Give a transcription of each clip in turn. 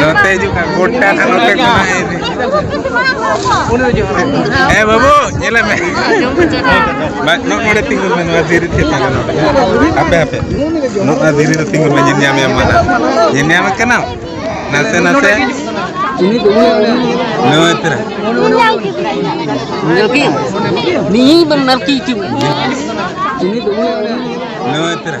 ᱱᱚᱛᱮ ᱦᱤᱡᱩᱜ ᱠᱟᱱ ᱜᱚᱴᱟ ᱱᱟᱜ ᱱᱚᱛᱮ ᱠᱷᱚᱱᱟᱜ ᱤᱫᱤ ᱦᱮᱸ ᱵᱟᱹᱵᱩ ᱧᱮᱞᱮ ᱢᱮ ᱵᱟᱝ ᱱᱚᱜ ᱱᱚᱰᱮ ᱛᱤᱸᱜᱩ ᱢᱮ ᱱᱚᱣᱟ ᱫᱷᱤᱨᱤ ᱛᱷᱤᱨ ᱛᱟᱦᱮᱸ ᱱᱚᱰᱮ ᱦᱟᱯᱮ ᱦᱟᱯᱮ ᱱᱚᱜ ᱱᱚᱣᱟ ᱫᱷᱤᱨᱤ ᱨᱮ ᱛᱤᱸᱜᱩ ᱢᱮ ᱧᱮᱞ ᱧᱟᱢᱮᱭᱟᱢ ᱢᱟᱱᱟ ᱧᱮᱞ ᱧᱟᱢᱮ ᱠᱟᱱᱟᱢ ᱱᱟᱥᱮ ᱱᱟᱥᱮ ᱱᱚᱣᱟ ᱛᱮᱨᱟ ᱱᱤᱭᱟᱹ ᱵᱟᱝ ᱱᱟᱨᱠᱤ ᱪᱩ ᱱᱚᱣᱟ ᱛᱮᱨᱟ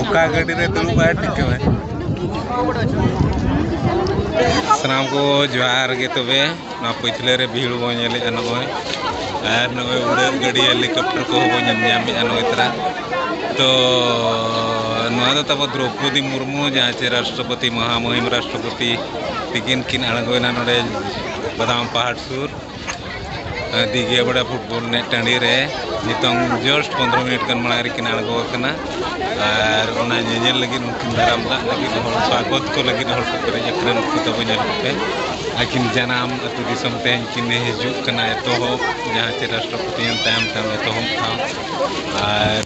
ᱚᱠᱟ ᱜᱟᱹᱰᱤ ᱨᱮ ᱫᱩᱲᱩᱵ ᱟᱭ ᱴᱷᱤᱠᱟᱹᱣᱟᱭ ᱥᱟᱱᱟᱢ ᱠᱚ ᱡᱚᱦᱟᱨ ᱜᱮ ᱛᱚᱵᱮ ᱱᱚᱣᱟ ᱯᱟᱹᱪᱷᱞᱟᱹ ᱨᱮ ᱵᱷᱤᱲ ᱵᱚᱱ ᱧᱮᱞᱮᱫᱼᱟ ᱱᱚᱜᱼᱚᱭ ᱟᱨ ᱱᱚᱜᱼᱚᱭ ᱩᱰᱟᱹᱜ ᱜᱟᱹᱰᱤ ᱦᱮᱞᱤᱠᱚᱯᱴᱟᱨ ᱠᱚᱦᱚᱸ ᱵᱚᱱ ᱧᱮᱞ ᱧᱟᱢᱮᱫᱼᱟ ᱱᱚᱜᱼᱚᱭ ᱛᱟᱨᱟ ᱛᱚ ᱱᱚᱣᱟ ᱫᱚ ᱛᱟᱵᱚ ᱫᱨᱳᱯᱚᱫᱤ ᱢᱩᱨᱢᱩ ᱡᱟᱦᱟᱸ ᱪᱮ ᱨᱟᱥᱴᱨᱚᱯᱚᱛᱤ ᱢᱚᱦᱟᱢᱚᱦᱤᱢ ᱨᱟᱥᱴᱨᱚᱯᱚᱛᱤ ᱛᱤᱠᱤᱱ ᱠᱤᱱ ᱟᱬᱜᱚᱭᱮᱱᱟ ᱱᱚᱰᱮ ᱵᱟᱫᱟᱢ ᱯᱟᱦᱟᱲ ᱥᱩᱨ ᱫᱤᱜᱷᱤᱭᱟ ᱵᱟᱲᱟ ᱯᱷᱩᱴᱵᱚᱞ ᱮᱱᱮᱡ ᱴᱟᱺᱰᱤ ᱨᱮ ᱱᱤᱛᱚᱝ ᱡᱚᱥᱴ ᱯᱚᱱᱨᱚ ᱢᱤᱱᱤᱴ ᱜᱟᱱ ᱢᱟᱲᱟᱝ ᱨᱮᱠᱤᱱ ᱟᱬᱜᱚ ᱟᱠᱟᱱᱟ ᱟᱨ ᱚᱱᱟ ᱧᱮᱧᱮᱞ ᱞᱟᱹᱜᱤᱫ ᱩᱱᱠᱤᱱ ᱫᱟᱨᱟᱢ ᱫᱟᱜ ᱞᱟᱹᱜᱤᱫ ᱦᱚᱲ ᱥᱟᱜᱚᱛ ᱠᱚ ᱞᱟᱹᱜᱤᱫ ᱦᱚᱲ ᱠᱚ ᱯᱮᱨᱮᱡ ᱟᱠᱟᱱᱟ ᱱᱩᱠᱩ ᱛᱟᱵᱚ ᱧᱮᱞ ᱠᱚᱯᱮ ᱟᱹᱠᱤᱱ ᱡᱟᱱᱟᱢ ᱟᱹᱛᱩ ᱫᱤᱥᱚᱢ ᱛᱮᱦᱮᱧ ᱠᱤᱱ ᱦᱤᱡᱩᱜ ᱠᱟᱱᱟ ᱮᱛᱚᱦᱚᱵ ᱡᱟᱦᱟᱸ ᱪᱮ ᱨᱟᱥᱴᱨᱚᱯᱚᱛᱤ ᱛᱟᱭᱚᱢ ᱛᱟᱭᱚᱢ ᱮᱛᱚᱦᱚᱵ ᱴᱷᱟᱶ ᱟᱨ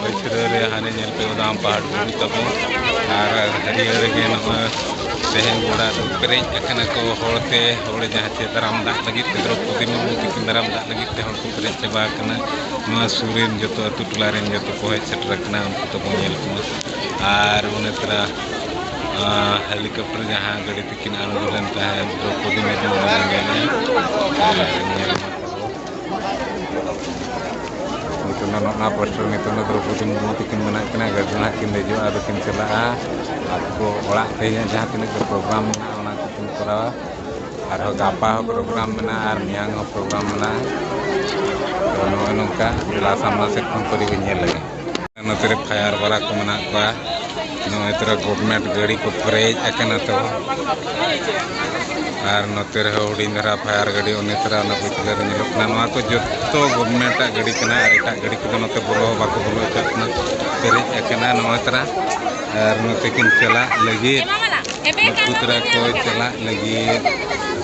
ᱯᱟᱹᱪᱷᱞᱟᱹ ᱨᱮ ᱦᱟᱱᱮ ᱧᱮᱞ ᱯᱮ ᱚᱱᱟ ᱯᱟᱦᱟᱲ ᱵᱩᱨᱩ ᱛᱟᱵᱚᱱ ᱟᱨ ᱦᱟᱹᱨᱭᱟᱹᱲ ᱜᱮ ᱱᱚᱣᱟ ᱛᱮᱦᱮᱧ ᱜᱚᱰᱟ ᱫᱚ ᱯᱮᱨᱮᱡ ᱟᱠᱟᱱᱟ ᱠᱚ ᱦᱚᱲ ᱛᱮ ᱦᱚᱲ ᱡᱟᱦᱟᱸ ᱪᱮ ᱫᱟᱨᱟᱢ ᱫᱟᱜ ᱞᱟᱹᱜᱤᱫ ᱛᱮ ᱫᱨᱳᱣᱯᱚᱫᱤ ᱢᱩᱨᱢᱩ ᱛᱟᱹᱠᱤᱱ ᱫᱟᱨᱟᱢ ᱫᱟᱜ ᱞᱟᱹᱜᱤᱫ ᱛᱮ ᱦᱚᱲ ᱠᱚ ᱯᱮᱨᱮᱡ ᱪᱟᱵᱟ ᱟᱠᱟᱱᱟ ᱱᱚᱣᱟ ᱥᱩᱨ ᱨᱮᱱ ᱡᱚᱛᱚ ᱟᱹᱛᱩ ᱴᱚᱞᱟ ᱨᱮᱱ ᱡᱚᱛᱚ ᱠᱚ ᱦᱮᱡ ᱥᱮᱴᱮᱨ ᱟᱠᱟᱱᱟ ᱩᱱᱠᱩ ᱛᱟᱵᱚ ᱧᱮᱞ ᱠᱚᱢᱟ ᱟᱨ ᱚᱱᱮ ᱛᱚᱨᱟ ᱦᱮᱞᱤᱠᱚᱯᱴᱚᱨ ᱡᱟᱦᱟᱸ ᱜᱟᱹᱰᱤ ᱛᱮᱠᱤᱱ ᱟᱬᱜᱚ ᱞᱮᱱ ᱛᱟᱦᱮᱸᱫ ᱫᱨᱳᱣᱯᱚᱫᱤ ᱢᱩᱨᱢᱩ ᱚᱱᱟ ᱧᱮᱞ ᱢᱟ ᱛᱟᱵᱚ ᱱᱤᱛᱚᱝ ᱫᱚ ᱱᱚᱜᱼᱱᱟ ᱯᱳᱥᱴᱟᱨ ᱱᱤᱛᱚᱝ ᱫᱚ ᱫᱨᱳᱯᱚᱫᱤ ᱢᱩᱨᱢᱩ ᱛᱤᱠᱤᱱ ᱢᱮᱱᱟᱜ ᱠᱤᱱᱟ ᱜᱟᱹᱰᱤ ᱨᱮ ᱱᱟᱦᱟᱜ ᱠᱤᱱ ᱫᱮᱡᱚᱜᱼᱟ ᱟᱫᱚ ᱠᱤᱱ ᱪᱟᱞᱟᱜᱼᱟ ᱟᱨ ᱠᱚ ᱚᱲᱟᱜ ᱛᱮᱦᱮᱧᱟᱜ ᱡᱟᱦᱟᱸ ᱛᱤᱱᱟᱹᱜ ᱜᱮ ᱯᱨᱳᱜᱨᱟᱢ ᱢᱮᱱᱟᱜᱼᱟ ᱚᱱᱟ ᱠᱚᱠᱤᱱ ᱠᱚᱨᱟᱣᱟ ᱟᱨᱦᱚᱸ ᱜᱟᱯᱟ ᱦᱚᱸ ᱯᱨᱳᱜᱨᱟᱢ ᱢᱮᱱᱟᱜᱼᱟ ᱟᱨ ᱢᱮᱭᱟᱝ ᱦᱚᱸ ᱯᱨᱳᱜᱨᱟᱢ ᱢᱮᱱᱟᱜᱼᱟ ᱛᱚ ᱱᱚᱜᱼᱚᱸᱭ ᱱᱚᱝᱠᱟ ᱡᱮᱞᱟ ᱥᱟᱢᱱᱟ ᱥᱮᱫ ᱠᱷᱚᱱ ᱯᱟᱹᱨᱤ ᱜᱮ ᱧᱮᱞ ᱞᱮᱜᱮ ᱱᱚᱛᱮ ᱨᱮ ᱯᱷᱟᱭᱟᱨ ᱵᱟᱞᱟ ᱠᱚ ᱢᱮᱱᱟᱜ ᱠᱚᱣᱟ ᱱᱚᱜᱼᱚᱭ ᱛᱚᱨᱟ ᱜᱚᱵᱷᱢᱮᱱᱴ ᱜᱟᱹᱲᱤ ᱠᱚ ᱯᱮᱨᱮᱡ ᱟᱠᱟᱱᱟ ᱛᱚ ᱟᱨ ᱱᱚᱛᱮ ᱨᱮᱦᱚᱸ ᱦᱩᱰᱤᱧ ᱫᱷᱟᱨᱟ ᱯᱷᱟᱭᱟᱨ ᱜᱟᱹᱰᱤ ᱩᱱᱤ ᱛᱚᱨᱟ ᱚᱱᱟ ᱯᱤᱪᱷᱞᱟᱹ ᱨᱮ ᱧᱮᱞᱚᱜ ᱠᱟᱱᱟ ᱱᱚᱣᱟ ᱠᱚ ᱡᱚᱛᱚ ᱜᱚᱵᱷᱢᱮᱱᱴᱟᱜ ᱜᱟᱹᱰᱤ ᱠᱟᱱᱟ ᱟᱨ ᱮᱴᱟᱜ ᱜᱟᱹᱰᱤ ᱠᱚᱫᱚ ᱱᱚᱛᱮ ᱵᱚᱞᱚ ᱦᱚᱸ ᱵᱟᱠᱚ ᱵᱚᱞᱚ ᱦᱚᱪᱚᱣᱟᱜ ᱠᱟᱱᱟ ᱯᱮᱨᱮᱡ ᱟᱠᱟᱱᱟ ᱱᱚᱜᱼᱚᱭ ᱛᱚᱨᱟ ᱟᱨ ᱱᱚᱛᱮ ᱠᱤᱱ ᱪᱟᱞᱟᱜ ᱞᱟᱹᱜᱤᱫ ᱱᱩᱠᱩ ᱛᱚᱨᱟ ᱠᱚ ᱪᱟᱞᱟᱜ ᱞᱟᱹᱜᱤᱫ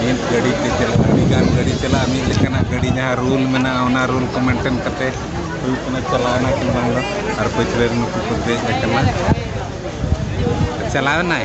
ᱢᱤᱫ ᱜᱟᱹᱰᱤ ᱛᱮ ᱪᱟᱞᱟᱜ ᱟᱹᱰᱤ ᱜᱟᱱ ᱜᱟᱹᱰᱤ ᱪᱟᱞᱟᱜᱼᱟ ᱢᱤᱫ ᱞᱮᱠᱟᱱᱟᱜ ᱜᱟᱹᱰᱤ ᱡᱟᱦᱟᱸ ᱨᱩᱞ ᱢᱮᱱᱟᱜᱼᱟ ᱚᱱᱟ ᱨᱩᱞ ᱠᱚ ᱢᱮᱱᱴᱮᱱ ᱠᱟᱛᱮ ᱦᱩᱭᱩᱜ ᱠᱟᱱᱟ ᱪᱟᱞᱟᱣᱱᱟ ᱠᱤ ᱵᱟᱝ ᱫᱚ ᱟᱨ ᱯᱟᱹᱪᱷᱞᱟᱹ ᱨᱮ ᱱᱩᱠᱩ ᱠᱚ ᱫᱮᱡ ᱟᱠᱟᱱᱟ ᱪᱟᱞᱟᱣᱱᱟᱭ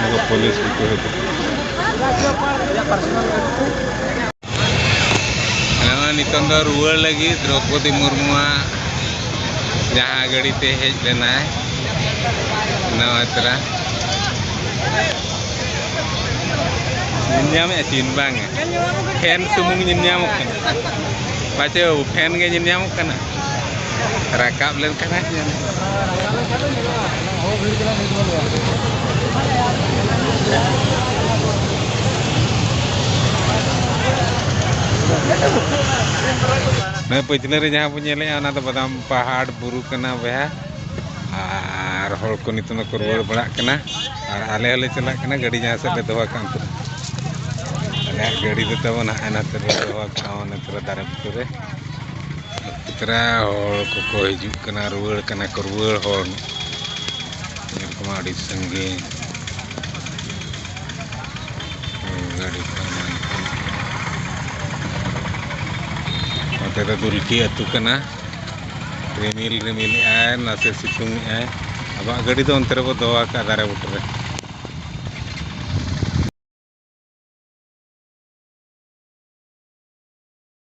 ᱱᱚᱣᱟ ᱯᱩᱞᱤᱥ ᱠᱚ ᱦᱮᱡ ᱱᱚᱜᱼᱚᱭ ᱱᱤᱛᱚᱝ ᱫᱚ ᱨᱩᱣᱟᱹᱲ ᱞᱟᱹᱜᱤᱫ ᱫᱨᱚᱯᱚᱫᱤ ᱢᱩᱨᱢᱩᱣᱟᱜ ᱡᱟᱦᱟᱸ ᱜᱟᱹᱰᱤ ᱛᱮ ᱦᱮᱡ ᱞᱮᱱᱟᱭ ᱱᱟᱣᱟ ᱛᱚᱨᱟ ᱧᱮᱞᱧᱟᱢᱮᱫᱼᱟ ᱪᱤᱱ ᱵᱟᱝ ᱯᱷᱮᱱ ᱥᱩᱢᱩᱝ ᱧᱮᱞᱧᱟᱢᱚᱜ ᱠᱟᱱᱟ ᱯᱟᱪᱮ ᱯᱷᱮᱱ ᱜᱮ ᱧᱮᱞᱧᱟᱢᱚᱜ ᱠᱟᱱᱟ ᱨᱟᱠᱟᱵ ᱞᱮᱱᱠᱷᱟᱱ ᱦᱟᱸᱜ ᱧᱮᱞ ᱱᱚᱣᱟ ᱯᱟᱹᱪᱷᱞᱟᱹ ᱨᱮ ᱡᱟᱦᱟᱸ ᱵᱚᱱ ᱧᱮᱞᱮᱜᱼᱟ ᱚᱱᱟ ᱫᱚ ᱵᱟᱫᱟᱢ ᱯᱟᱦᱟᱲ ᱵᱩᱨᱩ ᱠᱟᱱᱟ ᱵᱚᱭᱦᱟ ᱟᱨ ᱦᱚᱲ ᱠᱚ ᱱᱤᱛᱚᱜ ᱫᱚᱠᱚ ᱨᱩᱣᱟᱹᱲ ᱵᱟᱲᱟᱜ ᱠᱟᱱᱟ ᱟᱨ ᱟᱞᱮ ᱦᱚᱸᱞᱮ ᱪᱟᱞᱟᱜ ᱠᱟᱱᱟ ᱜᱟᱹᱰᱤ ᱡᱟᱦᱟᱸ ᱥᱮᱫ ᱞᱮ ᱫᱚᱦᱚ ᱠᱟᱜ ᱟᱞᱮᱭᱟᱜ ᱜᱟᱹᱰᱤ ᱫᱚ ᱛᱟᱵᱚᱱ ᱦᱟᱸᱜ ᱱᱟᱛᱮ ᱨᱮᱞᱮ ᱫᱚᱦᱚ ᱠᱟᱜᱼᱟ ᱱᱚᱛᱮ ᱨᱮ ᱫᱟᱨᱮ ᱵᱩᱴᱟᱹ ᱨᱮ ᱯᱮᱛᱨᱟ ᱦᱚᱲ ᱠᱚᱠᱚ ᱦᱤᱡᱩᱜ ᱠᱟᱱᱟ ᱨᱩᱣᱟᱹᱲ ᱠᱟᱱᱟ ᱠᱚ ᱨᱩᱣᱟᱹᱲ ᱦᱚᱲ ᱧᱮᱞ ᱠᱚᱢᱟ ᱟᱹᱰᱤ ᱥᱟᱺᱜᱤᱧ ᱜᱟᱹᱰᱤ ᱠᱚ ᱱᱚᱛᱮ ᱫᱚ ᱫᱩᱞᱠᱤ ᱟᱹᱛᱩ ᱠᱟᱱᱟ ᱨᱤᱢᱤᱞ ᱨᱤᱢᱤᱞ ᱮᱜᱼᱟᱭ ᱱᱟᱥᱮ ᱥᱤᱛᱩᱝ ᱮᱜᱼᱟᱭ ᱟᱵᱚᱣᱟᱜ ᱜᱟᱹᱰᱤ ᱫᱚ ᱚᱱᱛᱮ ᱨᱮᱵᱚ ᱫᱚᱦᱚ ᱟᱠᱟᱫ ᱫᱟᱨᱮ ᱵᱩᱴᱟᱹ ᱨᱮ